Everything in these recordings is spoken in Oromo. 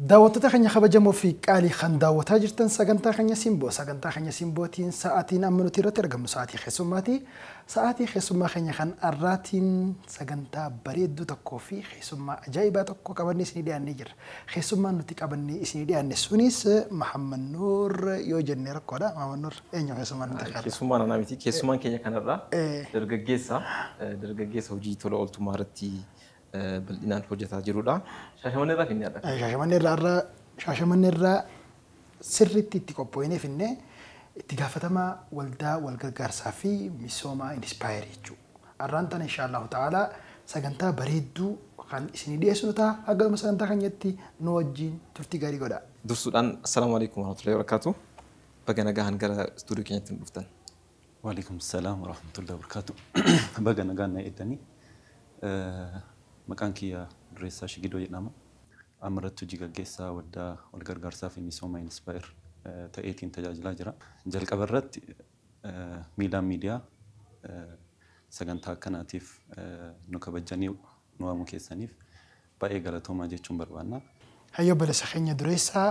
Daawwattoota keenya kabajamoo fi qaalii kan daawwataa jirtan sagantaa keenya simboo sagantaa keenya simbootiin sa'aatiin amma nuti irratti argamnu sa'aatii keessummaati. Sa'aatii keessummaa keenya kan har'aatiin sagantaa bareedduu tokkoo fi keessummaa ajaa'ibaa tokko qabannee isinii dhiyaannee jirra. Keessummaan nuti qabannee isinii dhiyaanne sunis Mahammad Nuur yoo jenne rakkoodha. Mahammad Nuur eenyu keessummaan nuti qabna? Keessummaan anaa miti. Keessummaan keenya kanarraa dargaggeessa. Dargaggeessa hojii tola ooltummaa irratti bal'inaan hojjetaa jirudha. Shaashamannee irraa finnee adha. Shaashamannee irraa irraa Shaashamannee irraa sirriitti itti qophooyinee finnee itti gaafatamaa waldaa walgargaarsaa fi misoomaa Inspire jechuu. Arraan tana inshaallahu ta'aalaa sagantaa bareedduu kan isinii dhiyeessinu taha. Hanga dhuma sagantaa keenyatti nu wajjiin turtii gaarii godhaa. Dursuudhaan Assalaamu Aleeykum Warahmatullaahi Wabarakaatuh. Baga nagahaan gara studio keenyatti nu dhuftan. Wa'aleeykum Salaam Warahmatullaahi Wabarakaatuh. Baga nagaan na eeddani. Maqaan kiyya Dureessaa Shigidoo jedhama. Amma irratti hojii gaggeessaa Waldaa Wal Gargaarsaa fi Misooma Inspire ta'eetiin tajaajilaa jira. Jalqaba irratti Miilaan Miidiyaa sagantaa akkanaatiif nu kabajjanii nu waamuu keessaniif baay'ee galatoomaa jechuun barbaanna. Hayyuu obbolessa keenya dureessa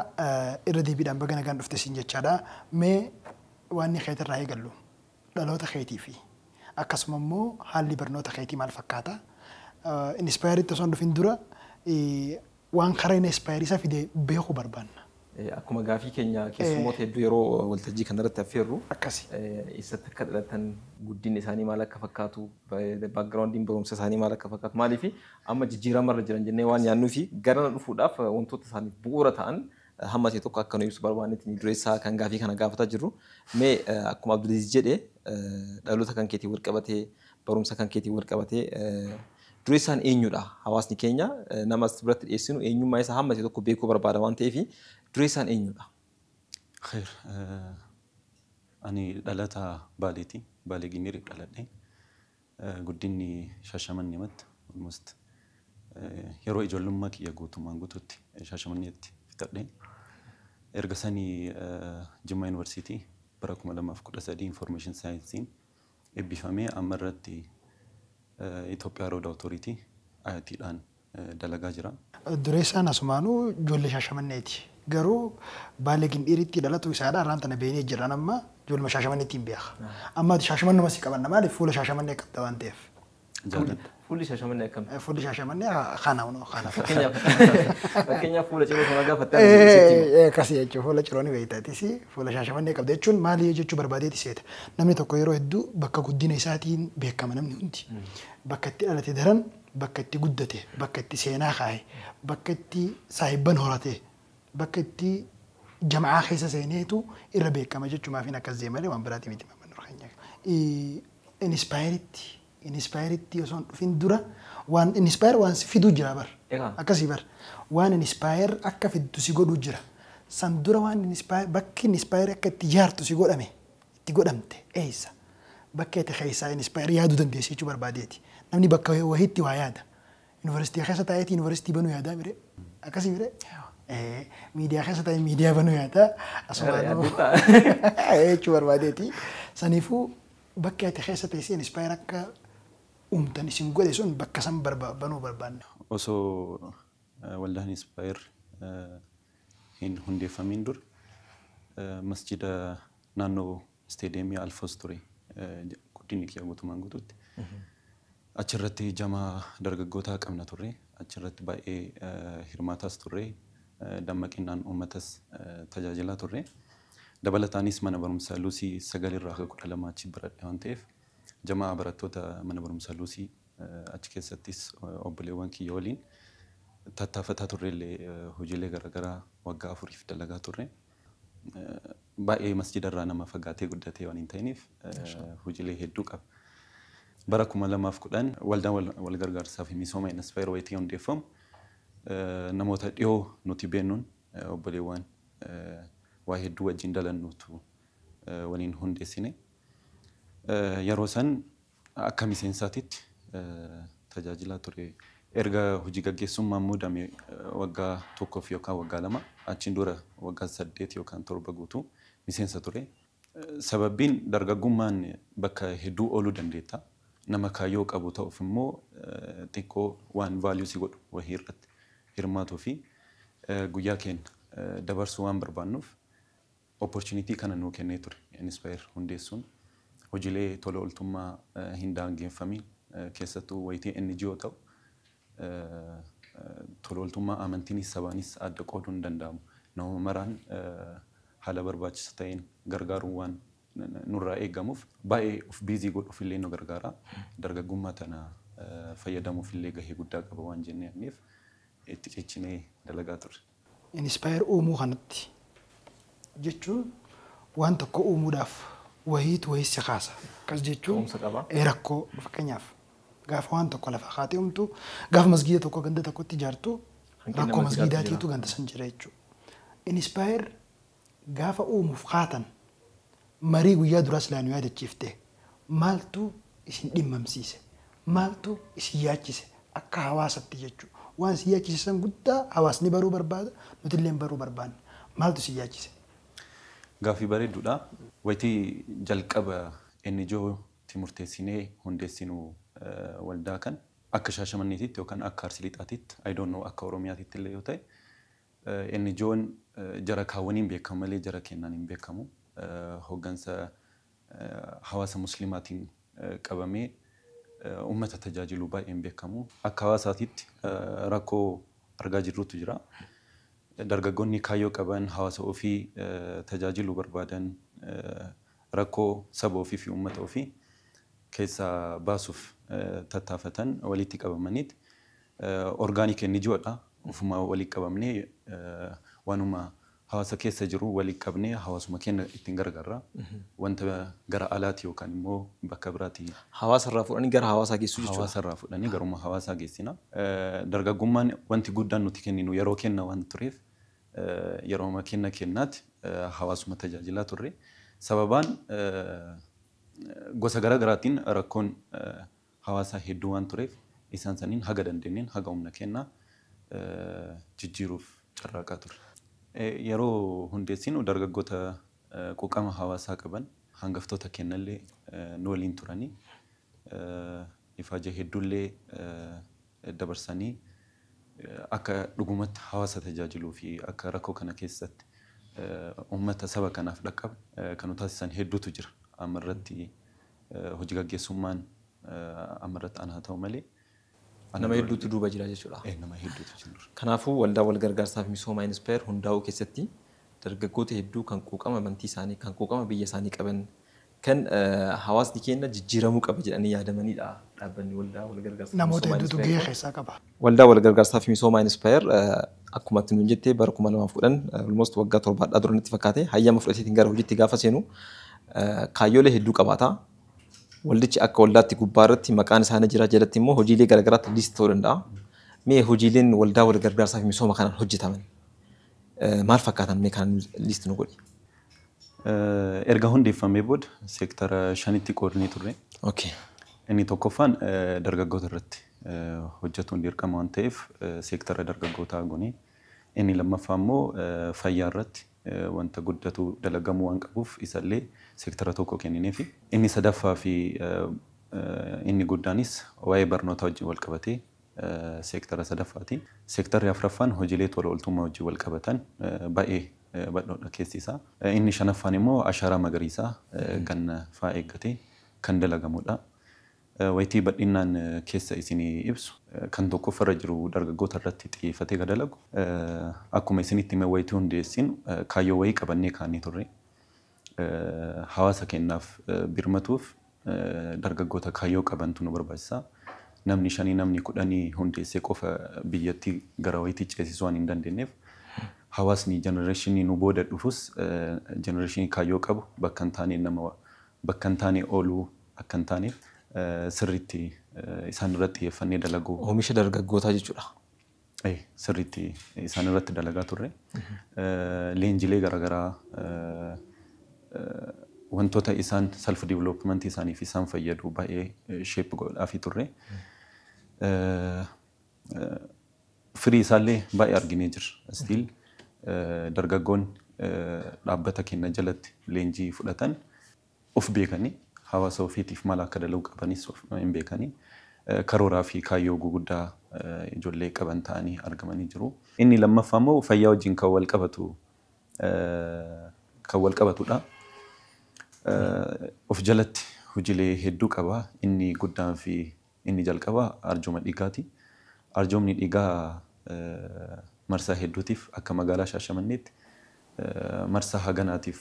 irra deebiidhaan baga nagaan dhufte siin jechaadha. Mee waanni keetirraa eegallu dhaloota keetii fi akkasuma immoo haalli barnoota keetii maal fakkaata? Inspire tti osoo hin dhufin dura Waan karaa inni expire isa fide beeku barbaanna. Akkuma gaafii keenya keessummoota hedduu yeroo waltajjii kana irratti affeerru, Akkasi. eessatti akka dhalatan, guddinni isaanii maal akka fakkaatu, background'n barumsa isaanii maal akka fakkaatu, maaliif amma jijjiirama irra jiran jennee waan yaadnuuf garana dhufuudhaaf wantoota isaaniif bu'uura ta'an hamma ta'e tokko akka nu ibsu barbaanneeti dureessaa kan gaafii kana gaafataa jirru. Mee akkuma Abdulaziz jedhe dhaloota kan keetiin walqabatee, barumsa kan keetiin walqabatee Dureessaan eenyudha? Hawaasni keenya nama as biratti dhiyeessinu eenyummaa isaa hammate tokko beekuu barbaada waan ta'eef dureessaan eenyudha? Kheeyr, Ani dhalataa Baaleeti. Baalee Gimbiiriif dhaladhe. Guddinni Shaashamannematt almost yeroo ijoollummaa kiyya guutummaan guutuutti Shaashamanneetti fixadhe. Erga sanii Jimmaa Yuunivarsiitii bara 2013 Information Science'n ebbifame amma irratti Ethiopia Road Authority, ART, dhaan dalagaa jira. Dureessaan asumaanuu joolle Shaashamanneeti. Garuu Baale Gindhiiritti dhalatuu isaadha arraan tana beeynee jirra an amma jooluma Shaashamannettiin beeka. Amma ati Shaashamannuma si qabanna maaliif fuula Shaashamannee qabda waan ta'eef. Jaalladha. Fuulli shaashamannee akkam? Fuulli shaashamannee kana hunoo kana. Fakkeenyaaf fuula ciroo sana gaafatte ani sitti hima. Akkasii jechuun fuula ciroo ni beektatis fuula shaashamannee qabda jechuun maali jechuu barbaadeeti seeta. Namni tokko yeroo hedduu bakka guddina isaatiin beekama namni hundi. Bakka itti dhalate daran bakka itti guddate bakka itti seenaa kaa'e bakka itti saahibban horate bakka itti jama'aa keessa seeneetu irra beekama jechumaafiin akkas jee malee waan biraatii miti Maamman Nur keenya. Inispaayeeritti inispaayeeritti osoo hin dhufin dura waan inispaayeer waan si fiduu jira bar Egaa. akkasii bar waan inispaayeer akka fiddu si godhuu jira san dura waan inispaayeer bakki inispaayeer akka itti jaartu si godhame itti godhamte eessa bakka ati keessaa inispaayeer yaaduu dandeessi jechuu barbaadeeti namni bakka wahiitti waa yaada University keessa taa'eeti university banuu yaadaa mire. Akkasii mire. Eh, Miidiyaa keessa taa'ee miidiyaa banuu yaadaa. Asumaanuu. Jechuu barbaadeeti. Saniifuu bakki ati keessa teessee inspire akka uumtan isin godhe sun bakka san barba- banuu barbaanna. osoo eh, waldaan Inspire eh, hin hundeeffamiin dura eh, masjida naannoo Isteediyeemii Alfoos ture guddinni kiyya guutumaan guutuutti. Achirratti jamaa dargaggootaa qabna turre. Achirratti baay'ee hirmaataas turre. Dammaqinnaan uummatas tajaajilaa turre. Dabalataanis mana barumsa Luusii 9 irraa haga 12 achi baradhe waan ta'eef jamaa barattoota mana barumsa Luusii achi keessattis obboleewwan kiyya waliin tattaafataa turrellee hojiilee garaagaraa waggaa afuriif dalagaa turre. baay'ee masjida irraa nama fagaatee guddatee waan hin ta'iniif hojiilee hedduu qaba. Bara 2010 waldaan wal gargaarsaa fi misooma Inspire wayitii hundeeffamu namoota dhiyoo nuti beennuun obboleewwan waa hedduu wajjin dalannuutu waliin hundeessine. Yeroo san Akka miseensaatitti tajaajilaa ture. Erga hojii gaggeessummaan muudame waggaa tokkoof yookaan waggaa lama, achiin dura waggaa saddeet yookaan torba guutuu miseensa ture. Sababbiin dargaggummaan bakka hedduu ooluu dandeetta. Nama kaayyoo qabu ta'uuf immoo xiqqoo waan value si godhu wahii irratti hirmaatuu fi guyyaa keenya dabarsuu waan barbaannuuf, Opportunity kana nuu kennee ture Inspire hundeessuun hojilee tola oltummaa hin daangeeffamiin keessattuu wayitee NGO ta'u tola oltummaa amantiinis sabaanis adda qooduun hin danda'amu. Nama maraan haala barbaachisa ta'een gargaaruun waan nurraa eegamuuf baay'ee of busy godhuuf illee nu gargaara. Dargaggummaa tana fayyadamuuf illee gahee guddaa qaba waan jennee amneef itti cichinee dalagaa turre. Inspire uumuu kanatti jechuun waan tokko uumuudhaaf wahiitu wahii si kaasa. Akkas jechuun Ka'umsa qaba. ee rakkoo fakkeenyaaf gaafa waan tokko lafaa kaatee uumtu gaafa masgiida tokko ganda tokkotti ijaartu Hanqina rakkoo masgiidaatu masgiidaatiitu jira. ganda san jira jechuudha. Inspire Gaafa uumuuf kaatan marii guyyaa duraa silaa nu yaadachiifte maaltu isin dhimmamsiise? Maaltu isin yaachise? Akka hawaasatti jechuu. Waan isin yaachise san guddaa hawaasni baruu barbaada, nutilleen baruu barbaanna. Maaltu isin yaachise? Gaaffii bareedduudha. Wayitii jalqaba NGO tti murteessinee hundeessinu waldaa kan akka Shaashamanneetitti yookaan akka Arsii Lixaatitti, I don't know akka Oromiyaatittillee yoo ta'e, NGOn jara kaan waniin beekkamu malee jara keennaan hin beekkamu. Hoggansa hawaasa Muslimaatiin qabamee ummata tajaajiluu baay'een beekkamu. Akka hawaasaatitti rakkoo argaa jirrutu jira. Dargaggoonni kaayyoo qaban, hawaasa ofii tajaajiluu barbaadan rakkoo saba ofii fi ummata ofii keessaa baasuuf tattaafatan walitti qabamaniit Organic NGO dha. Ofuma wali qabamne wanuma hawasa kessa jiru wali qabne hawasuma kenna ittin gargarra. Wanta gara alati yokan immo bakka birati. Hawasa irra fudhani gara hawasa gessu jechudha. Hawasa irra fudhani garuma hawasa gessina. Dargagumman wanti guddan nuti kenninu yero kenna wan turef yeroma kenna kennati hawasuma tajajila turre. Sababan gosa gara garatin rakkon hawaasaa hedduu waan tureef isaan sanniin haga dandeenneen haga humna keennaa jijjiiruuf carraaqaa turre. Yeroo hundeessinu dargaggoota quuqama hawaasaa qaban hangaftoota keennallee nu waliin turanii ifaajee hedduullee dabarsanii akka dhugumatti hawaasa tajaajiluu fi akka rakkoo kana keessatti ummata saba kanaaf dhaqqabu kan nu taasisan hedduutu jira. Amma irratti hoji gaggeessummaan amma irratti ana haa ta'u malee ana Nama dura hedduutu duuba jira jechuudha. eh, nama hedduutu jira. Kanaafuu Waldaa Walgargaarsaa fi Misoomaa Inspire hundaa'uu keessatti dargaggoota hedduu kan quuqama amantii isaanii, kan quuqama biyya isaanii qaban Kan hawaasni keenna jijjiiramuu qaba jedhanii yaadamaniidha Dhaabbanni Waldaa Walgargaarsa fi Namoota Misoomaa hedduutu Inspire gahee kun. keessaa qaba. Waldaa Walgargaarsaa fi Misoomaa Inspire akkuma atti nuun jette bara 2010 almost waggaa 7 hadhaa dura natti fakkaate hayyama fudhateetiin gara hojiitti gaafa seenu kaayyoolee hedduu qabaata. Waldichi akka waldaatti gubbaa irratti maqaan isaa ni jira jalatti immoo hojiilee gara garaatti list ta'uu danda'a. Mee hojiileen Waldaa Walgargaarsaa fi Misooma kanaan hojjetaman maal fakkaatan mee kana list nu godhi. Erga hundeeffamee booda seektara shanitti qoodnee turre. Okay. Inni tokkoffaan dargaggoota irratti hojjetuun dirqama waan ta'eef seektara dargaggootaa goone. Inni lammaffaa immoo fayyaa irratti wanta guddatu dalagamuu waan qabuuf isallee seektara tokko kennineefi. Inni sadaffaa fi inni guddaanis waa'ee barnootaa wajjin wal qabatee seektara sadaffaati. Seektarri afraffaan hojiilee tola ooltummaa wajjin wal qabatan baay'ee badhoodha keessi isaa. Inni shanaffaan immoo ashaaraa magariisaa ganna faa eeggatee kan dalagamudha. Wayitii badhinnaan keessa isinii ibsu kan tokkoffarra jiru dargaggoota irratti xiyyeeffatee ka dalagu. Akkuma isinitti hime wayitii hundeessinu kaayyoo wayii qabannee kaanee turre. hawaasa keennaaf birmatuuf dargaggoota kaayyoo qabantu nu barbaachisa. Namni shanii namni kudhanii hundeessee qofa biyyattii gara wayiitti ceesisuu waan hin dandeenyeef hawaasni jenereeshinii nu booda dhufus jenereeshinii kaayyoo qabu bakka hin taaneen nama bakka hin taane ooluu akka hin taane sirriitti isaan irratti xiyyeeffannee dalaguu. Oomisha dargaggootaa jechuudha. sirriitti isaan irratti dalagaa turre. Leenjilee garaagaraa wantoota isaan self development isaaniif isaan fayyadu baay'ee shape godhaafii turre. Firii isaallee baay'ee arginee jirra. Still dargaggoonni dhaabbata keenya jalatti leenjii fudhatan of beekanii hawaasa ofiitiif maal akka dalaguu qabanis of in beekanii karooraa fi kaayyoo guguddaa ijollee qaban ta'anii argamanii jiru. Inni lammaffaa immoo fayyaa wajjin kan wal qabatu kan wal qabatu dha. Of jalatti hojilee hedduu qaba. Inni guddaan fi Inni jalqabaa arjooma dhiigaati. Arjoomni dhiigaa marsaa hedduutiif akka magaalaa Shaashamanneetti marsaa haganaatiif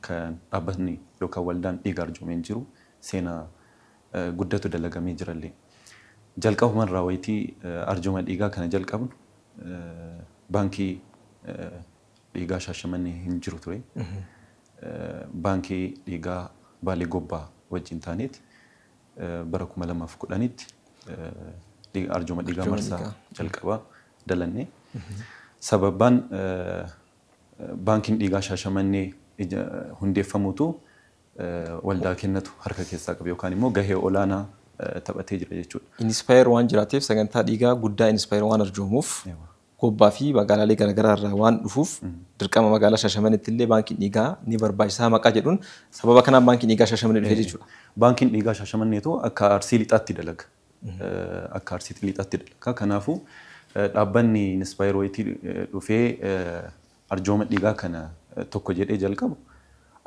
kan dhaabbatni yookaan waldaan dhiiga arjoome hin jiru. Seenaa guddatu dalagamee jirallee. Jalqabumarraa wayitii arjooma dhiigaa kana jalqabnu baankii dhiigaa Shaashamannee hin jiru ture. Baankii dhiigaa Baalee Gobbaa wajjin taaneeti. Bara 2010tti arjooma dhiigaa marsaa jalqabaa dalanne. Sababaan baankiin dhiigaa Shaashamannee hundeeffamuutu waldaa kennatu harka keessaa qabe yookaan immoo gahee olaanaa taphatee jira jechuudha. Inspire waan jiraateef sagantaa dhiigaa guddaa Inspire waan arjoomuuf Gobbaa fi magaalaalee garaagaraa irraa waan dhufuuf dirqama magaalaa Shaashamaneetti illee baankiin dhiigaa ni barbaachisaa maqaa jedhuun sababa kanaan baankiin dhiigaa Shaashamanee dhufee jechuudha. Baankiin dhiigaa Shaashamanneetu akka Arsii Lixaatti dalaga. Akka Arsiitti Lixaatti dalaga. Kanaafuu dhaabbanni Inspire Wayitii dhufee arjooma dhiigaa kana tokko jedhee jalqabu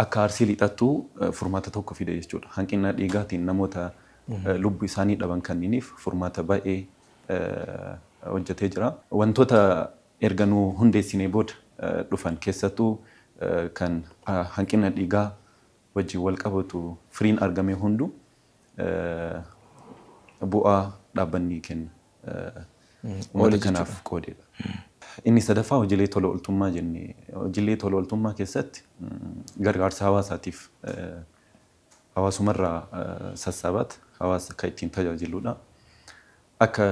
akka Arsii Lixattuu furmaata tokko fida jechuudha. Hanqina dhiigaatiin namoota lubbu isaanii dhaban kanniiniif furmaata baay'ee hojjetee jira. Wantoota erga nu hundeessinee booda dhufan keessattuu kan hanqina dhiigaa wajjin walqabatu firiin argame hunduu bu'aa dhaabbanni kennu uummata kanaaf qoodedha. Inni sadaffaa hojiilee tola ooltummaa jenne. Hojiilee tola ooltummaa keessatti gargaarsa hawaasaatiif hawaasumarraa sassaabaat hawaasa akka ittiin tajaajiludha. Akka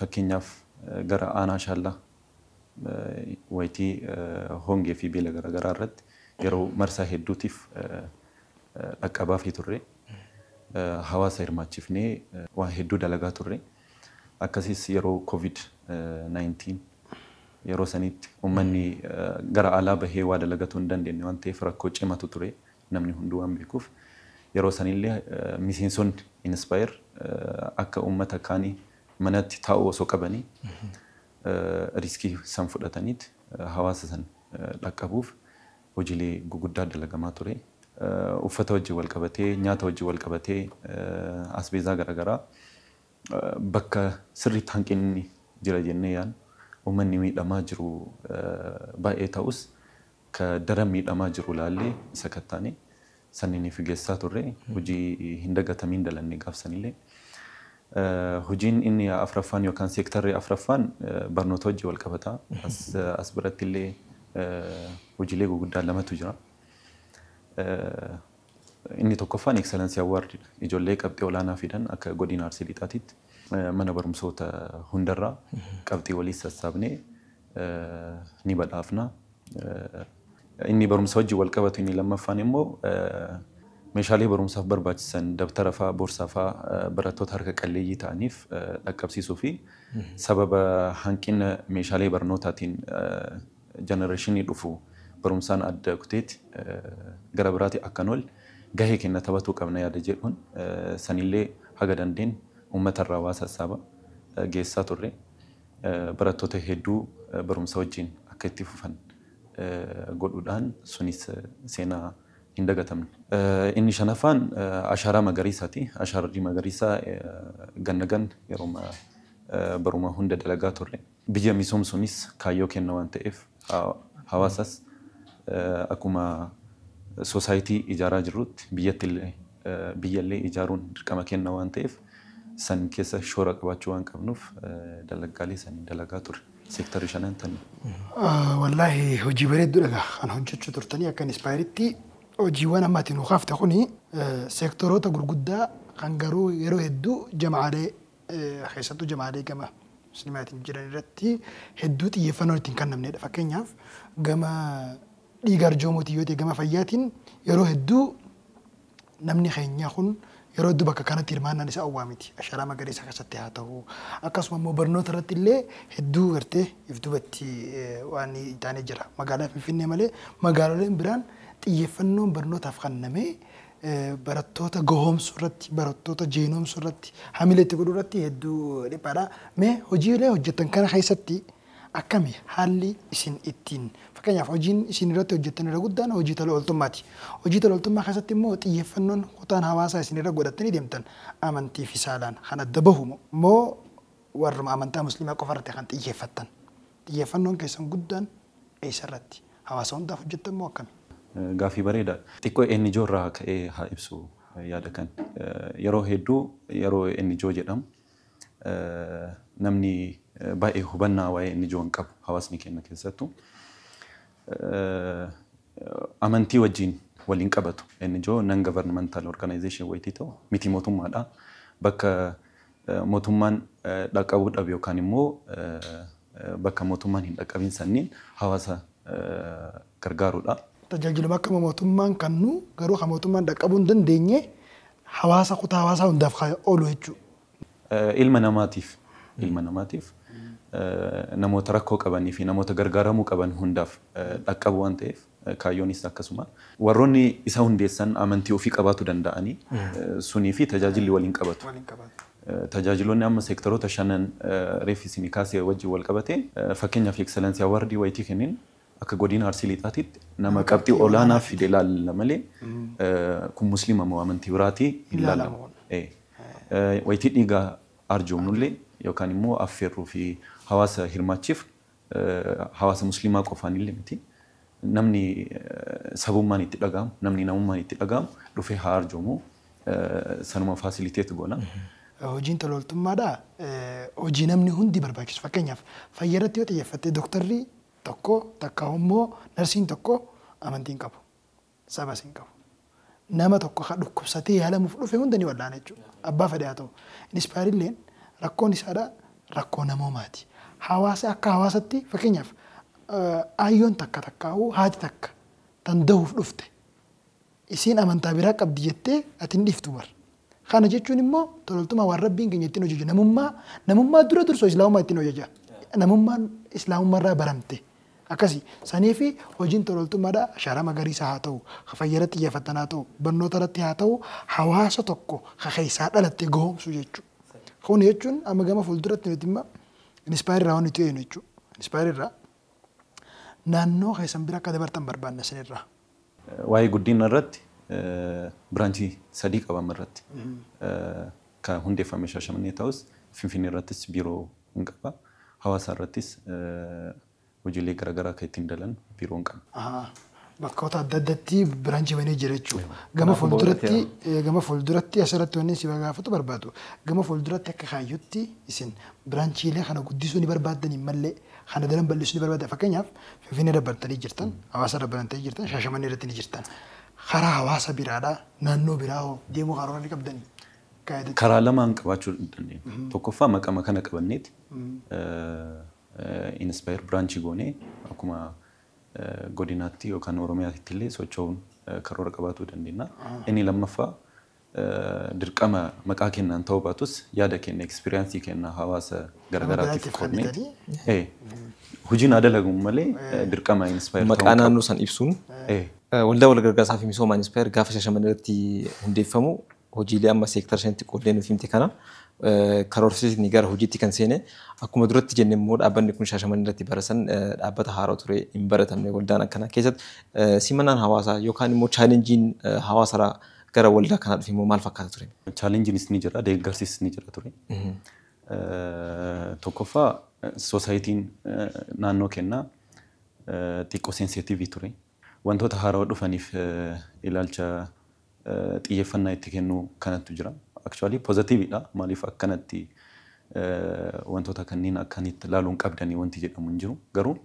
fakkeenyaaf gara aanaa Shaallaa wayitii hongee fi beela garaagaraa irratti yeroo marsaa hedduutiif dhaqqabaafii turre. Hawaasa hirmaachifnee waan hedduu dalagaa turre. Akkasiis yeroo covid 19 yeroo saniitti ummanni gara alaa bahee waa dalagatuu hin dandeenne waan ta'eef rakkoo cimatu ture namni hunduu waan beekuuf. Yeroo sanillee miseensonni Inspire akka ummata kaanii manatti taa'uu osoo qabanii riskii san fudhataniit hawaasa san dhaqqabuuf hojiilee guguddaa dalagamaa ture. Uffata wajjin wal qabatee, nyaata wajjin wal qabatee, asbeezaa garagaraa bakka sirriitti hanqinni jira jennee yaadnu, ummanni miidhamaa jiru baay'ee ta'us ka daran miidhamaa jiru laallee sakattaane. saniniif gessaa turre hojii hin dagatamiin dalanne gaaf sanillee. Hojiin inni afraffaan yookaan seektarri afraffaan barnoota wajjin wal qabata. As biratti illee hojiilee gurguddaan lamatu jira. Inni tokkoffaan Excellence Award dha. Ijoollee qabxii olaanaa fidan akka godina Arsii Lixaatiitti mana barumsoota hundarraa qabxii waliin sassaabnee ni badhaafna. Inni barumsa wajjin wal qabatu inni lammaffaan immoo meeshaalee barumsaaf barbaachisan dabtara fa'aa, boorsaa fa'aa barattoota harka qalleeyyii ta'aniif dhaqqabsiisuu fi sababa hanqina meeshaalee barnootaatiin jenereeshinii dhufu barumsaan adda kuteeti gara biraati akka hin oolle gahee kenna taphatuu qabna yaada jedhuun sanillee haga dandeen uummatarraa waa sassaaba geessaa turre. barattoota hedduu barumsa wajjin akka itti fufan godhuudhaan sunis seenaa hin dagatamne. Inni shanaffaan ashaaraa magariisaati. Ashaarri magariisaa ganna ganna yeroo baruma hunda dalagaa turre. Biyya misoomsuunis kaayyoo keenna waan ta'eef. Hawaasas akkuma sosaayitii ijaaraa jirrutti biyyattillee biyyallee ijaaruun dirqama keenna waan ta'eef san keessa shoora qabaachuu waan qabnuuf dalaggaalee san dalagaa turre. Seektarri shanan tani. Wallaahi hojii bareedduudha egaa kan hojjechuu turtanii akka inspaayeeritti hojiiwwan amma ati nuu kaafte kuni seektoroota gurguddaa kan garuu yeroo hedduu jama'aalee keessattuu jamaalee gama sinimaatiin jiran irratti hedduu xiyyeeffannoon ittiin kannamneedha. Fakkeenyaaf gama dhiiga arjoomuutiin yoo ta'e gama fayyaatiin yeroo hedduu namni keenyaa kun yeroo hedduu bakka kanatti hirmaannaan isaa owwaa miti. Asharaa magariisa keessatti haa ta'u. Akkasuma immoo barnoota irratti illee hedduu gartee if duubatti waan taanee jira. Magaalaa Finfinnee malee magaaloleen biraan xiyyeeffannoon barnootaaf kannamee barattoota gahoomsuu irratti, barattoota jeenomsuu irratti, hamile itti godhuu irratti hedduu dhiphaadha. Mee hojiilee hojjettan kana keessatti akkami haalli isin ittiin fakkeenyaaf hojiin isin irratti hojjettan irra guddaan hojii tola ooltummaati. Hojii tola ooltummaa keessatti immoo xiyyeeffannoon kutaan hawaasaa isin irra godhattanii deemtan amantii fi saalaan kan adda bahu moo warruma amantaa musliimaa qofa irratti kan xiyyeeffattan? Xiyyeeffannoon keessan guddaan eessa irratti? Hawaasa hundaaf hojjettan moo akkami? Gaaffii bareedaa dha. Xiqqoo NGO irraa ka'ee haa ibsu yaada kan. Yeroo hedduu yeroo NGO jedhamu namni baay'ee hubannaa waa'ee NGO hin qabu hawaasni keenya keessattu. Amantii wajjin wal hin qabatu. NGO non governmental organization wayitii ta'u miti mootummaa dha. Bakka mootummaan dhaqqabuu dhabe yookaan immoo bakka mootummaan hin dhaqqabin sanniin hawaasa gargaaruudha. Tajaajiluma akkama mootummaan kannu garuu kan mootummaan dhaqqabuu hin dandeenye hawaasa kutaa hawaasaa hundaaf kan oolu jechuudha. Ilma namaatiif ilma namaatiif namoota rakkoo qabanii fi namoota gargaaramuu qaban hundaaf dhaqqabu waan ta'eef Kaayyoonis akkasuma. Warroonni isa hundeessan amantii ofii qabaatu danda'ani. Sunii fi tajaajilli wal hin qabatu. Tajaajiloonni amma seektaroota shanan reef isinii kaase wajjin wal qabate fakkeenyaaf Excellence Award wayitii kennin akka Godina Arsii Lixaatitti nama qabxii olaanaa fide ilaalla malee kun Muslima moo amantii biraatii hin laalamu. Wayitii dhiiga arjoomnullee yookaan immoo affeerruu fi hawaasa hirmaachifnu hawaasa musliimaa qofaanillee miti namni sabummaan itti dhaga'amu namni namummaan itti dhaga'amu dhufee haa arjoomu sanuma facilitate goona. Hojiin tola ooltummaadhaa hojii namni hundi barbaachisu fakkeenyaaf fayya irratti yoo xiyyeeffatte doktarri tokko takkaahuu immoo narsiin tokko amantii hin qabu. Sabas hin qabu. Nama tokko ka dhukkubsatee yaalamuuf dhufe hunda ni wallaana jechuu dha. Abbaa fedhe haa ta'u. Inspire illeen rakkoon isaa dha rakkoo namoomaa ti. Hawaasa akka hawaasatti fakkeenyaaf aayyoon takka takkaahuu haati takka tan dahuuf dhufte isiin amantaa biraa qabdi jettee ati hin dhiiftu bar. Kana jechuun immoo tololtumaa waan Rabbiin keenya ittiin hojjeju namummaa namummaa dura dursoo islaamummaa ittiin hojjeja. Namummaan islaamummaa irraa baramte. Akkasi sanii fi hojiin tololtummaadha ashaaraa magariisa haa ta'u, ka fayya irratti xiyyeeffatan haa ta'u, barnoota irratti haa ta'u hawaasa tokko ka keessaa dhalatte gohoomsuu jechuu. Kun jechuun amma gama fuulduratti nuti imma inspire irraa waan nuti eegnu jechuu. Inspire irraa naannoo keessan bira akka dabartan barbaanna isinirraa. Waa'ee guddinna irratti biraanchii sadii qaba amma irratti. Kan hundeeffame Shaashamannee ta'us Finfinnee irrattis biiroo hin qaba. Hawaasaa irrattis hojiilee garagaraa kan ittiin dalannu biiroo hin qabnu. Ahaa. Bakkoota adda addatti biraanchii banee jira jechuudha. Gama fuulduratti gama fuulduratti asirratti wanni si gaafatu barbaadu gama fuulduratti akka kaayyootti isin biraanchiilee kana guddisuu ni barbaaddanii mallee Kana daran bal'isuu ni barbaadda. Fakkeenyaaf Finfinnee irra barattanii jirtan, Hawaasa irra barantanii jirtan, Shaashamannee irratti ni jirtan. Karaa hawaasa biraadhaa naannoo biraa hoo deemuu karoora ni qabdanii? Gaa'eetiin. Karaa lamaan qabaachuu ni dandeenya. Tokkoffaa maqama kana qabanneeti Inspire branch goonee akkuma godinaatti yookaan Oromiyaatti illee socho'uun karoora qabaatuu dandeenya. Inni lammaffaa dirqama maqaa kennaan ta'uu baatus yaada keenya experience keenya hawaasa Nama garagaraatiif biraatiif qoodnee kannitanii. eh, hojiin haa dalaguun malee eh, dirqama inspire Maqaa ta'uu naannoo san ibsuun qabu. Eh, eh, waldaa walgargaarsaa fi misoomaa Inspire gaafa Shaashamannee irratti hundeeffamu hojiilee amma seektara shanitti qoodnee nuuf himte kana eh, karoorsiisni gara hojiitti kan seene akkuma duratti jenne immoo dhaabbanni kun Shaashamannee irratti bara san eh, dhaabbata haaraa ture hin baratamne waldaan akkanaa keessatti eh, simannaan hawaasaa yookaan immoo chaalenjiin eh, hawaasarraa Gara waldaa kanaa dhufe immoo maal fakkaata ture? Chaalenjiinis ni jira, deeggarsis ni jira ture. Tokkoffaa sosaayitiin naannoo kennaa xiqqoo seenseetiivii ture. Wantoota haarawa dhufaniif ilaalcha xiyyeeffannaa itti kennuu kanattu jira. Akchuwaalii poozatiiviidha. Maaliif akkanatti wantoota kanneen akkanitti ilaaluun qabdanii wanti jedhamu hin jiru. Garuu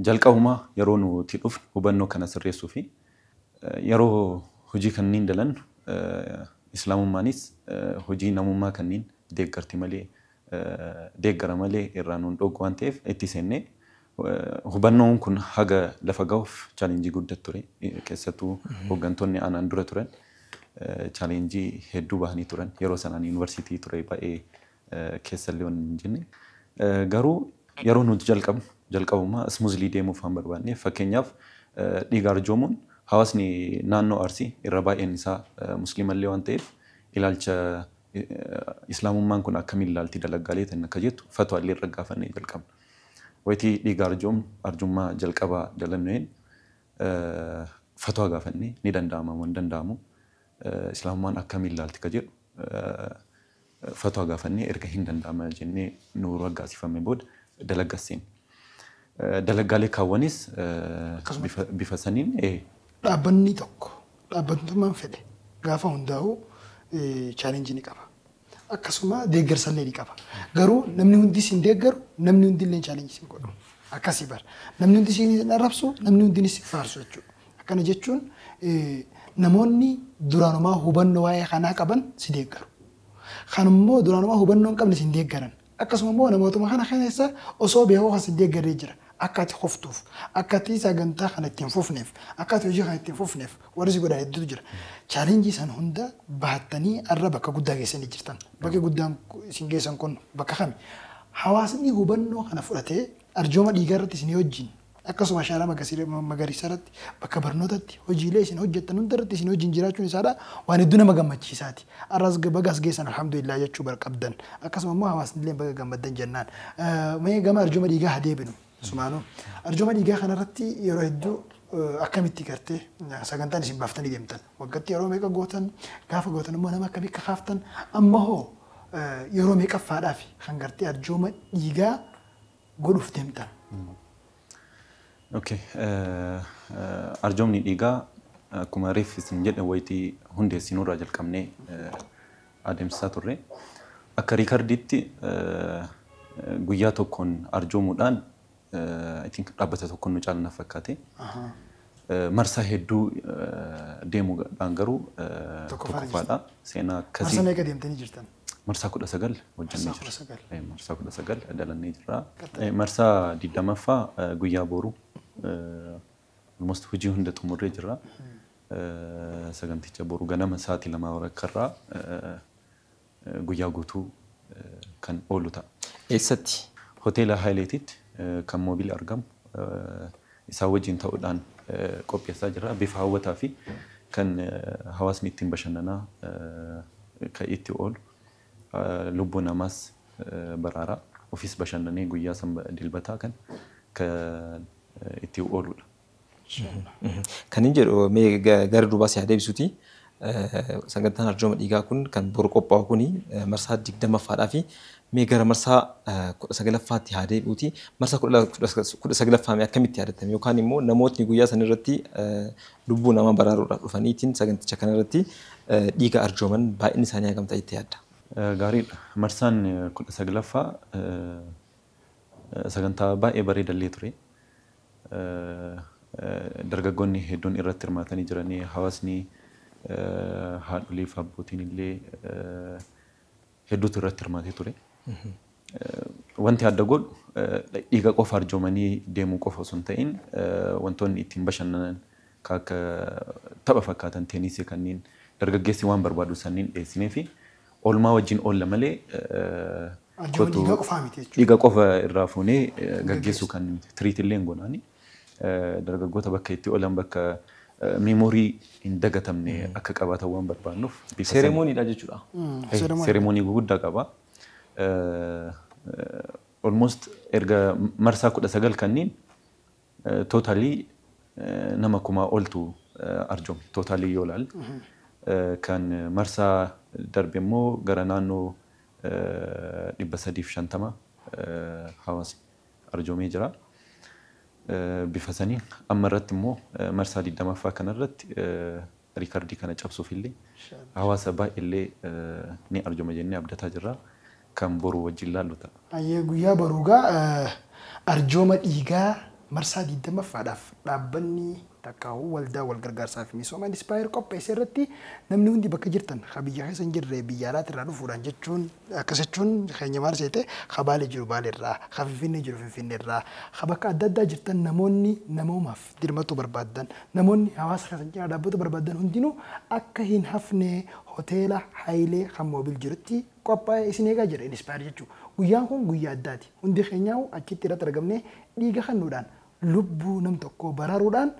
jalqabumaa yeroo nuti dhufnu hubannoo kana sirreessuu fi Yeroo hojii kanniin dalannu Islaamummaanis hojii namummaa kanniin deeggarti malee, deeggara malee, irraa nu hin dhooggu waan ta'eef itti seennee hubannoon kun haga lafa gahuuf challenge gudda ture. Keessattuu hoggantoonni anaan dura turan challenge hedduu bahanii turan. Yeroo sanaan university ture baay'ee keessallee wanni hin jenne. Garuu yeroo nuti jalqabnu jalqabuma smoothly deemuuf waan barbaanneef fakkeenyaaf dhiiga arjoomuun hawaasni naannoo Arsii irra baay'een isaa musliimallee waan ta'eef ilaalcha islaamummaan kun akkamiin ilaalti dalaggaalee tan akka jettu fatwaallee irra gaafannee jalqabna. Wayitii dhiiga arjoomnu arjummaa jalqabaa dalannu'een fatwaa gaafannee ni danda'ama moo hin danda'amu islaamummaan akkamiin ilaalti ka jedhu Fatwa gaafannee erga hin danda'ama jennee nuu raggaasifame booda dalagga seenne. Dalaggaalee kaawwanis bifa saniin. Dhaabbannii tokko dhaabbatntummaan fedhe gaafa hundaa'u challenge ni qaba. Akkasuma deeggarsallee ni qaba. Garuu namni hundi isin deeggaru, namni hundilleen challenge isin godhu. Akkasi bar. Namni hundi isin arrabsu, namni hundinis isin faarsu jechuudha. Akkana jechuun namoonni duraanumaa hubannoo waa'ee kanaa qaban si deeggaru. Kan immoo duraanumaa hubannoo hin qabne sin deeggaran. Akkasuma immoo namootuma kana keessa osoo beekuu kan sin deeggarree jira. Akka ati kuftuuf, akka ati sagantaa kana itti hin fufneef, akka ati hojii kana itti hin fufneef warri si godhan hedduutu jira. Chaalenjii san hunda baattanii har'a bakka guddaa geessanii jirtan. Bakki guddaan isin geessan kun bakka kami? Hawaasni hubannoo kana fudhatee arjooma dhiigaa irratti isinii wajjin Akkasuma ashaaraa magariisaarratti, bakka barnootatti, hojiilee isin hojjettan hundarratti isin wajjin jiraachuun isaadhaa waan hedduu nama gammachiisaati. Har'as baga as geessan alhamdulillah jechuu bar qabdan. Akkasuma immoo hawaasnilleen baga gammaddan jennaan. Mee gama arjooma dhiigaa haa deebinu. Sumaanuu. Arjooma dhiigaa kanarratti yeroo hedduu akkamitti gartee sagantaan isin baaftanii deemtan? Waggatti yeroo meeqa gootan? Gaafa gootan immoo nama akkamii kakaaftan? Amma hoo yeroo meeqaffaadhaafi kan gartee arjooma dhiigaa godhuuf deemtan. Okay. Arjoomni dhiigaa akkuma reef isin jedhe wayitii hundeessinuu irraa jalqabnee adeemsisaa turre. Akka riikardiitti guyyaa tokkoon arjoomuudhaan I think dhaabbata tokkoon nu caalna fakkaate. Marsaa hedduu deemuudhaan garuu tokkoffaadha. Seenaa akkasii. Marsaa meeqa deemtanii jirtan? Marsaa kudha sagal hojjannee Marsaa kudha jirra. sagal. Eh, Marsaa kudha sagal dalannee jirra. Galtanii. Eh, Marsaa digdamaffaa eh, guyyaa booruu eh, almost hojii hunda xumurree jirra. Eh, Saganticha boru ganama sa'aatii lamaa walakkarraa eh, eh, guyyaa guutuu eh, kan oolu ta'a. Eessatti? Hoteela Haayileetitti eh, kan moobil argamu eh, isaa wajjin ta'uudhaan qopheessaa jirra. Bifa hawwataa fi kan hawaasni ittiin bashannanaa kan itti oolu lubbuu namaas baraara. Ofiis bashannanee guyyaa san dilbataa kan kan itti ooludha. Kanin jedhu mee gara duubaa si haa deebisuti Sagantaan arjooma dhiigaa kun kan boru qophaa'u kun marsaa 20ffaadhaafi mee gara marsaa 19ffaatti haa deebi'uuti marsaa 19ffaa mee akkamitti yaadatame yookaan immoo namootni guyyaa san irratti lubbuu namaa baraaruudhaaf dhufaniitiin saganticha kana irratti dhiiga arjooman baay'inni isaanii hagam ta'a jettee yaadda? Gaariidha. Marsaan 19ffaa sagantaa baay'ee bareeda illee ture. dargaggoonni hedduun irratti hirmaatanii jiran. Hawaasni, haadholii fi abbootiin illee hedduutu irratti hirmaatee ture. Wanti adda godhu dhiiga qofa arjoomanii deemuu qofa osoo hin ta'in wantoonni ittiin bashannanan kan akka tapha fakkaatan teenisii kanneen dargaggeessi waan barbaadu sanniin dhiyeessinee fi oolmaa wajjin oolla malee Arjooma dhiigaa qofaa miti jechuudha. Dhiiga qofa irraa fuunee gaggeessuu kan nuti tiriit illee gonaani. Dargaggoota bakka itti oolan bakka meemoorii hin dagatamne akka qabaatan waan barbaannuuf. Seeremooniidha jechuudha. Seeremoonii guguddaa qaba. Almost erga marsaa kudha sagal kanniin Totally nama kumaa oltu arjoome. Totally yoo ilaalle. Kan marsaa darbe immoo gara naannoo 350 hawaasni arjoomee jira. Bifa saniin amma irratti immoo marsaa 20ffaa kana irratti Riikardii kana cabsuufillee hawaasa baay'ellee ni arjooma jennee abdataa jirra. Kan boru wajjin laallu ta'a. Hayyee guyyaa boru egaa arjooma dhiigaa marsaa 20ffaadhaaf dhaabbanni takkaahuu waldaan walgargaarsaa fi misooma Inspire qopheesse irratti namni hundi bakka jirtan ka biyya keessa hin jirre biyya alaati irraa dhufuudhaan jechuun akkas jechuun keenya maal seete ka Baalee jiru Baaleerraa, ka Finfinnee jiru Finfinneerraa, ka bakka adda addaa jirtan namoonni namoomaaf. dirmatuu barbaaddan, namoonni hawaasa keessan cinaa dhaabbatuu barbaaddan hundinuu akka hin hafne hoteela Hayilee kan Moobil jirutti qophaa'e isin eegaa jira Inspire jechuun. Guyyaan kun guyyaa addaati. Hundi keenyaahuu achitti irratti argamnee dhiiga kennuudhaan, lubbuu nam tokkoo baraaruudhaan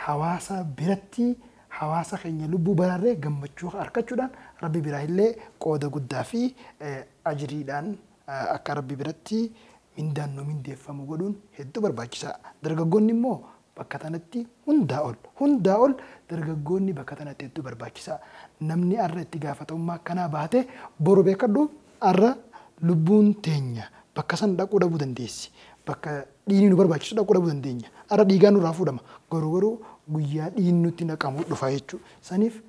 hawaasa biratti hawaasa keenya lubbuu baraarree gammachuu arkachuudhaan Rabbi biraahillee qooda guddaa fi ajriidhaan akka Rabbi biratti mindaan nuu mindeeffamu godhuun hedduu barbaachisaa. Dargaggoonni immoo bakka tanatti hundaa ol, hundaa ol dargaggoonni bakka tanatti hedduu barbaachisaa. Namni arra itti gaafatamummaa akkanaa bahate boru beekhadhu arra lubbuun teenya bakka san dhaquu dhabuu dandeessi. Bakka dhiigni nu barbaachisu dhaquu dhabuu dandeenya. Arra dhiigaan nurraa fuudhama. Boru garuu guyyaa dhiigni nutti naqamu dhufa jechuudha. Saniif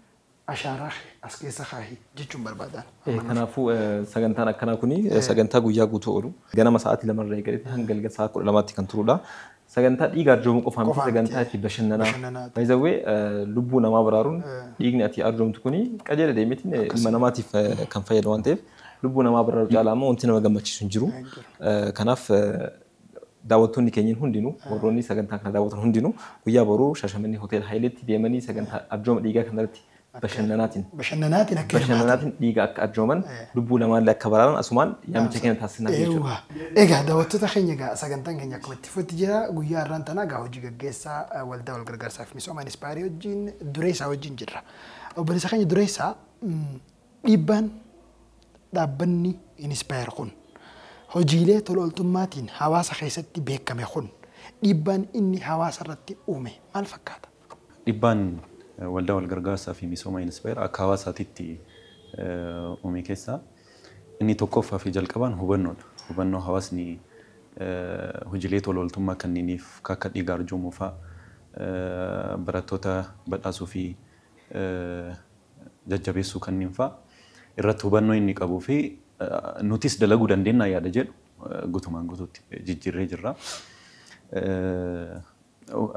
ashaaraa kee as keessa kaahi jechuun barbaadaan. Eh, Amma naaf Kanaafuu eh, sagantaan akkanaa kun eh, sagantaa guyyaa guutuu oolu. Ganama sa'aatii lama irraa eegalee hanga galgala sa'aa kudha lamaatti kan turudha. Sagantaa dhiiga arjoomuu qofaa miti Qofaa miti. sagantaa itti bashannanaa. Bashannanaa. By the way, eh, lubbuu namaa baraaruun Eh. dhiigni ati arjoomtu kun qajeela deemeetiin eh, ilma namaatiif eh, kan fayyadu waan ta'eef lubbuu namaa baraaruu caalaa ammoo wanti nama gammachiisu hin jiru. Hin jiru. Eh, Kanaaf eh, Daawwattoonni keenyin hundinuu, warroonni sagantaa kana daawwatan hundinuu guyyaa boruu Shaashamannee Hotel Hayileetti deemanii sagantaa arjooma dhiigaa kanarratti bashannanaatin Bashannanaatin akka hirmaatan. bashannanaatin dhiiga akka arjooman, lubbuu namaallee akka baraaran asumaan yaamicha keenya taasisnaaf jechuudha. Eewwa. Egaa daawwattoota keenya egaa sagantaan keenya akkuma itti fufetti jira. Guyyaa har'aan tanaa egaa hojii gaggeessaa Waldaa Walgargaarsaa fi Misooma Inspaayerii wajjin, Dureessaa wajjin jirra. Obboleessa keenya Dureessaa, Dhiibbaan dhaabbanni Inspire kun hojiilee tola oltummaatiin hawaasa keessatti beekkame kun dhiibbaan inni hawaasa irratti uume maal fakkaata? Dhibbaan Waldaa Wal Gargaarsaa fi Misooma Inspire akka hawaasaatitti uume keessaa inni tokkoffaa fi jalqabaan hubannoo dha. Hubannoo hawaasni hojiilee tola oltummaa kanniiniif kan akka dhiiga arjoomuu faa, barattoota badhaasuu fi jajjabeessuu kanniin fa'a irratti hubannoo inni qabuu fi nutis dalaguu dandeennaa yaada jedhu gutumaan gutuutti jijjiirree jirra.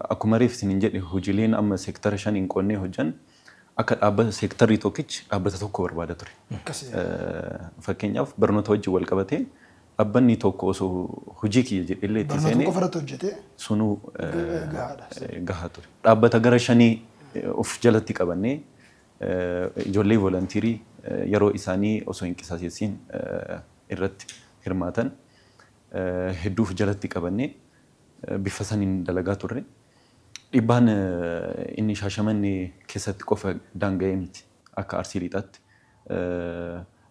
Akkuma reef isinin jedhe hojileen amma seektara shaniin qoonnee hojjan akka dhaabbata seektarri tokkichi dhaabbata tokko barbaada ture. Fakkeenyaaf barnoota wajjin wal qabatee Dhabbannii tokko oso hojii kiyya jedhellee itti Barnootuma seenee qofa irratti hojjetee sunuu gahaadha. gahaa ture. Dhaabbata gara shanii of jalatti qabannee ijoollee volunteerii yeroo isaanii osoo hin qisaseessiin irratti hirmaatan hedduu of jalatti qabannee bifa saniin dalagaa turre. Dhibbaan inni Shaashamannee keessatti qofa daanga'ee miti. Akka Arsii Lixaatti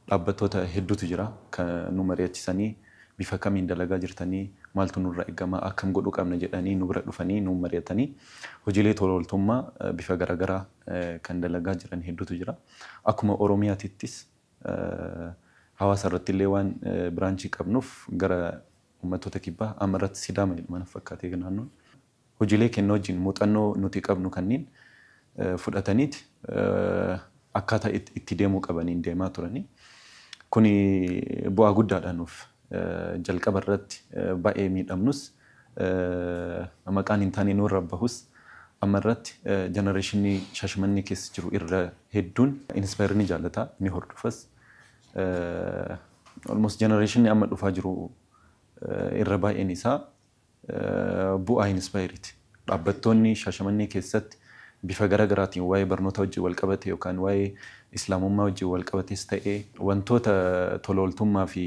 Dhaabbattoota hedduutu jira kan nu mari'achisanii bifa kamiin dalagaa jirtanii, maaltu nurraa eggama, akkam godhuu qabna jedhanii nu bira dhufanii nuun mari'atanii hojiilee tola ooltummaa bifa garaagaraa kan dalagaa jiran hedduutu jira. Akkuma Oromiyaatittis hawaasa irrattillee waan biraanchii qabnuuf gara uummattoota kibbaa amma irratti Sidaama jedhama natti fakkaate naannoon. Hojiilee kenna wajjin muuxannoo nuti qabnu kanniin fudhataniit akkaataa itti deemuu qabaniin deemaa turanii. Kuni bu'aa guddaadha nuuf. Jalqaba irratti baay'ee miidhamnus, maqaan hin taane nurra bahus amma irratti jenereeshinni Shaashamannee keessa jiru irra hedduun Inspire ni jaallata, ni hordofas. Almost jenereeshinni amma dhufaa jiru irra baay'een isaa Bu'aa Inspayiriti. Dhaabbattoonni Shaashamannee keessatti bifa gara garaatiin waa'ee barnootaa wajjin wal qabate yookaan waa'ee Islaamummaa wajjin wal qabates ta'e wantoota tola ooltummaa fi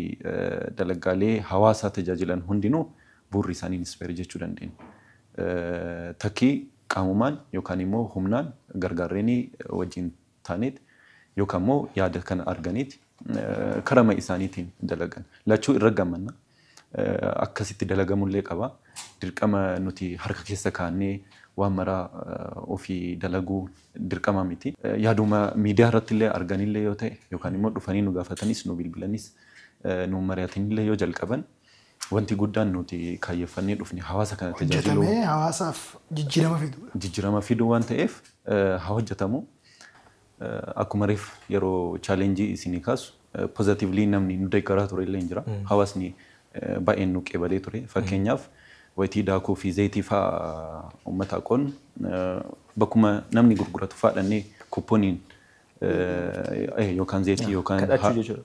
dalagaalee hawaasaa tajaajilan hundinuu bu'urri isaanii Inspayiri jechuu dandeenya. Takkii qaamumaan yookaan immoo humnaan gargaarreenii wajjin taanit yookaan immoo yaada kana arganiit karama isaaniitiin dalagan. Lachuu irra gammanna. Akkasitti dalagamu illee qaba. Dirqama nuti harka keessa kaa'annee waan maraa ofii dalaguu dirqama miti. Yaaduma miidiyaa irratti illee arganii illee yoo ta'e yookaan immoo dhufanii nu gaafatanis nu bilbilanis nuun mari'atanii illee yoo jalqaban Wanti guddaan nuti kaayyeffannee dhufne hawaasa kana tajaajiluu. Hojjetamee hawaasaaf jijjiirama fiduudha. Jijjiirama fiduu waan ta'eef haa hojjetamu. Akkuma reef yeroo challenge isinii kaasu positively namni nu deeggaraa ture illee jira. Hawaasni baay'een nu qeebalee ture. Fakkeenyaaf wayitii daakuu fi zayitii fa'a uummataaf qoodnu bakkuma namni gurguratu fa'a dhaqnee kupponiin yookaan zeetii yookaan kadhachuu jechuudha.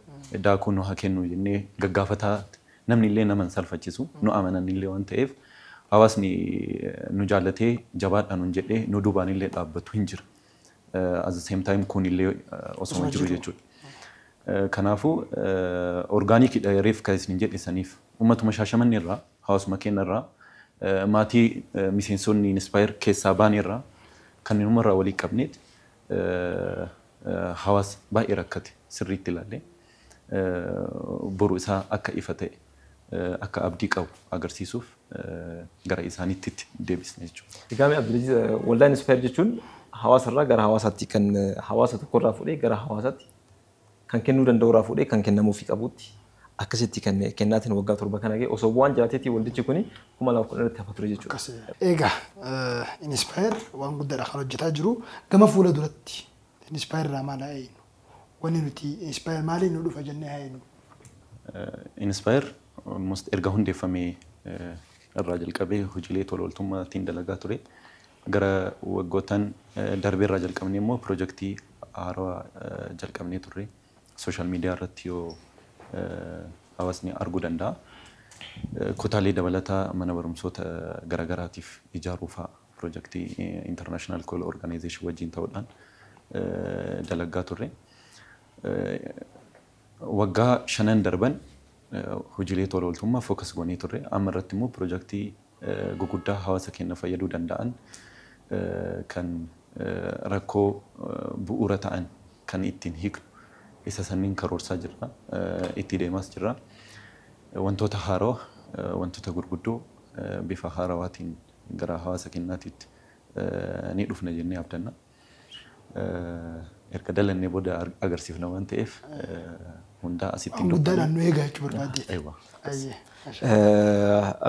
daakuu nu haa kennu jennee gaggaafataa namni illee nama hin salfachisu nu amanan illee waan ta'eef hawaasni nu jaallatee jabaadhaa nun jedhee nu duubaan illee dhaabbatu hin jira. As the same time kun illee osoo jiru jechuudha. Kanaafuu orgaanikiidha reef kan isin jedhe saniif uummatuma shaashamanni irraa hawaasuma keenya irraa maatii miseensonni inspire keessaa baane irraa kan numarraa walii qabneet hawaasni baay'ee rakkate sirriitti ilaallee boru isaa akka ifa ta'e akka abdii qabu agarsiisuuf gara isaaniitti itti deebisna jechuudha. Egaa mee Abdulaziz waldaa Inspire jechuun hawaasa irraa gara hawaasaatti kan hawaasa tokko irraa fuudhee gara hawaasaatti kan kennuu danda'u irraa fuudhee kan kennamuufii qabuutti akkasitti kenne. Kennaatiin waggaa torba kana ga'e. Osoo bu'aan jiraateetii waldichi kuni 2010 irratti hafa ture jechuudha. Akkasi. Eegaa Inspire waan guddaadha kan hojjetaa jiru. Gama fuula duratti Inspire irraa maal haa eegnu? Wanni nuti Inspire maaliin nu dhufa jennee haa eegnu? Inspire almost erga hundeeffamee irraa jalqabee hojiilee tola ooltummaa ittiin dalagaa ture. Gara waggoottan darbeerraa jalqabnee immoo pirojektii haarawa jalqabnee turre. Social media irratti yoo hawaasni arguu danda'a. Kutaalee dabalataa mana barumsoota garagaraatiif ijaaruu fa'a pirojektii International Call Organization wajjin ta'uudhaan dalaggaa turre. Waggaa shanan darban hojiilee tola ooltummaa focus goonee turre. Amma irratti immoo pirojektii guguddaa hawaasa keenya fayyaduu danda'an kan rakkoo bu'uura ta'an kan ittiin hiiknu isa sanniin karoorsaa jirra. Itti deemaas jirra. Wantoota haarawa, wantoota gurguddoo bifa haarawaatiin gara hawaasa keenyaatiitti ni dhufna jennee abdanna. erga dalannee booda agarsiifna waan ta'eef hundaa asitti hin dubbanne. Guddaadhaan nu eegaa jechuu barbaadde. Eewwa. Ayyee.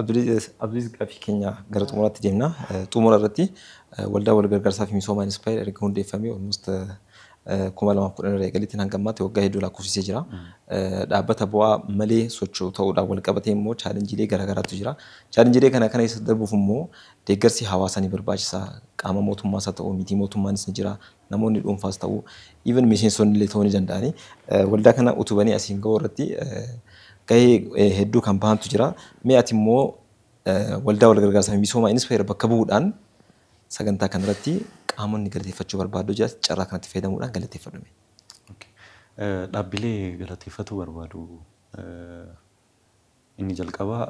Abdulaziz gaaffii keenya gara xumuraatti deemna. Xumura irratti waldaa wal gargaarsaa fi misoomaa Inspire erga hundeeffamee almost kuma lamaaf kudhan irraa eegaleetiin hanga ammaatti waggaa hedduu lakkoofsisee jira. Dhaabbata bu'aa malee socho'u ta'uudhaan wal qabatee immoo chaalenjiilee garaagaraatu jira. Chaalenjiilee kana kana keessa darbuuf immoo Deeggarsi hawaasaa ni barbaachisa. Qaama mootummaas haa ta'u, mitii mootummaanis ni jira. Namoonni dhuunfaas ta'u, even miseensonni illee ta'uu ni danda'ani. Waldaa kana utubanii asiin ga'uu irratti gahee hedduu kan bahantu jira. Mee ati immoo waldaa wal gargaarsaa fi misoomaa Inspire bakka bu'uudhaan sagantaa kana irratti qaamonni galateeffachuu barbaaddu jiras carraa kanatti fayyadamuudhaan galateeffadhu mee. Okay. Dhaabbilee galateeffatuu barbaadu. Inni jalqabaa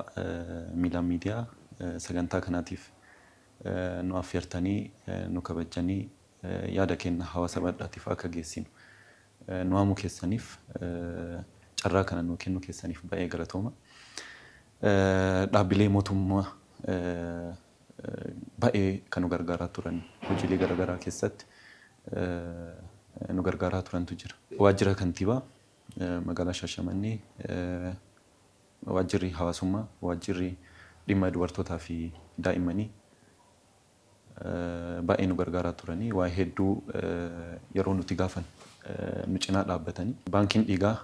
Miilaan Miidiyaa sagantaa kanaatiif nu affeertanii nu kabajjanii yaada keenna hawaasa baldhaatiif akka geessinu nu waamuu keessaniif carraa kana nuu kennu keessaniif bay'ee galatooma. Dhaabbilee mootumma bay'ee ka nu gargaaraa turan hojiilee garagaraa keessatti nu gargaaraa turantu jira. Waajjira Kantiibaa Magaalaa Shaashamannee Waajjirri Hawaasummaa, Waajjirri Dhimma Dubartootaa fi Daa'immanii baay'ee nu gargaaraa turanii waa hedduu yeroo nuti gaafan nu cinaa dhaabbatanii. Baankiin Dhiigaa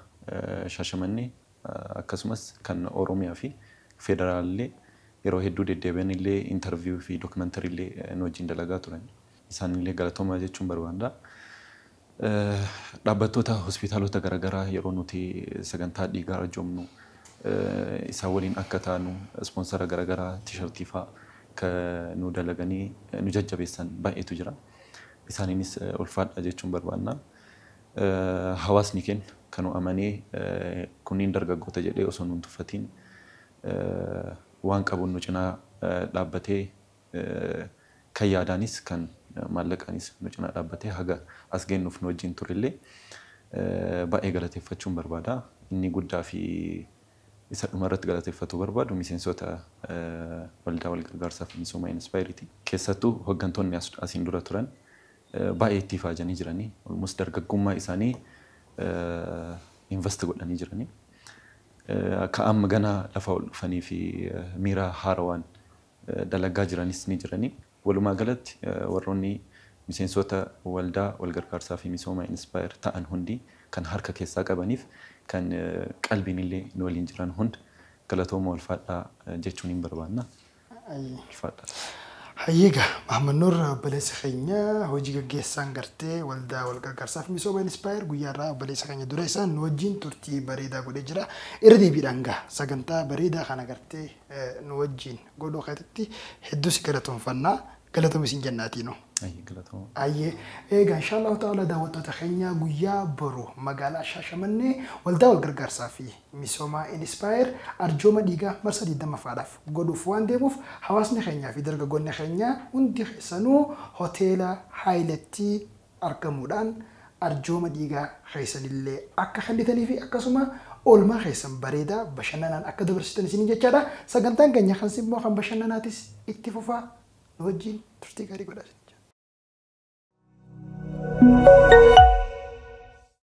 Shaashamannee akkasumas kan Oromiyaa fi Federaalaa illee yeroo hedduu deddeebi'anii illee interview fi documentary illee nu wajjin dalagaa turanii. Isaan illee galatoomaa jechuun barbaada. Dhaabbattoota hospitaalota garagaraa yeroo nuti sagantaa dhiigaa arjoomnu isaan waliin akka taanu ispoonsara garagaraa tishartii faa ka nuu dalaganii nu jajjabeessan baay'eetu jira. Isaaniinis ulfaadhaa jechuun barbaanna. Hawaasni keenna ka nu amanee kunniin dargaggoota jedhee osoo nu hin tuffatiin waan qabuun nu cinaa dhaabbatee, Kan yaadaanis kan maallaqaanis nu cinaa dhaabbatee haga as geennuuf nu wajjiin turellee baay'ee galateeffachuun barbaada. Inni guddaa fi isa dhuma irratti galateeffatuu barbaadu miseensoota Waldaa Walgargaarsaa fi Misooma Inspire ti. Keessattuu hoggantoonni asiin dura turan baay'ee itti ifaajanii jirani. Almost dargaggummaa isaanii invest godhanii jirani. Ka amma ganaa lafa ol dhufanii fi miira haarawaan dalagaa jiranis ni jirani. Walumaa galatti warroonni miseensoota waldaa walgargaarsaa fi misooma Inspire ta'an hundi kan harka keessaa qabaniif kan qalbiinillee nu waliin jiran hund galatooma ulfaadhaa jechuuniin barbaanna. Ulfaadhaa. Hayyee egaa Mahammad Nuur obboleessa keenya hojii gaggeessaan gartee waldaa walgargaarsaa fi misooma Inspire guyyaa har'aa obboleessa keenya dureessaan nu wajjin turtii bareedaa godhee jira. Irra deebiidhaan egaa sagantaa bareedaa kana gartee nu wajjiin godhuu keetitti hedduu si galatoomfanna. Galatomi siin jenna atiinuu. Ayyee galatooma. Ayyee eegaa inshaallahu ta'ala daawwattoota keenyaa guyyaa boru magaalaa Shaashamannee waldaa wal gargaarsaa fi misoomaa Inspire arjooma dhiigaa marsaa 20ffaadhaaf godhuuf waan deemuuf hawaasni keenyaa fi dargaggoonni keenyaa hundi keessanuu hoteela Haayiletti argamuudhaan arjooma dhiigaa keessan illee akka kennitanii fi akkasuma oolmaa keessan bareedaa bashannanaan akka dabarsitan isiniin jechaadha. Sagantaan keenya kan simmoo kan bashannanaatis itti fufa. Nu wajjin turtii gaarii godhaa isiniin jenna.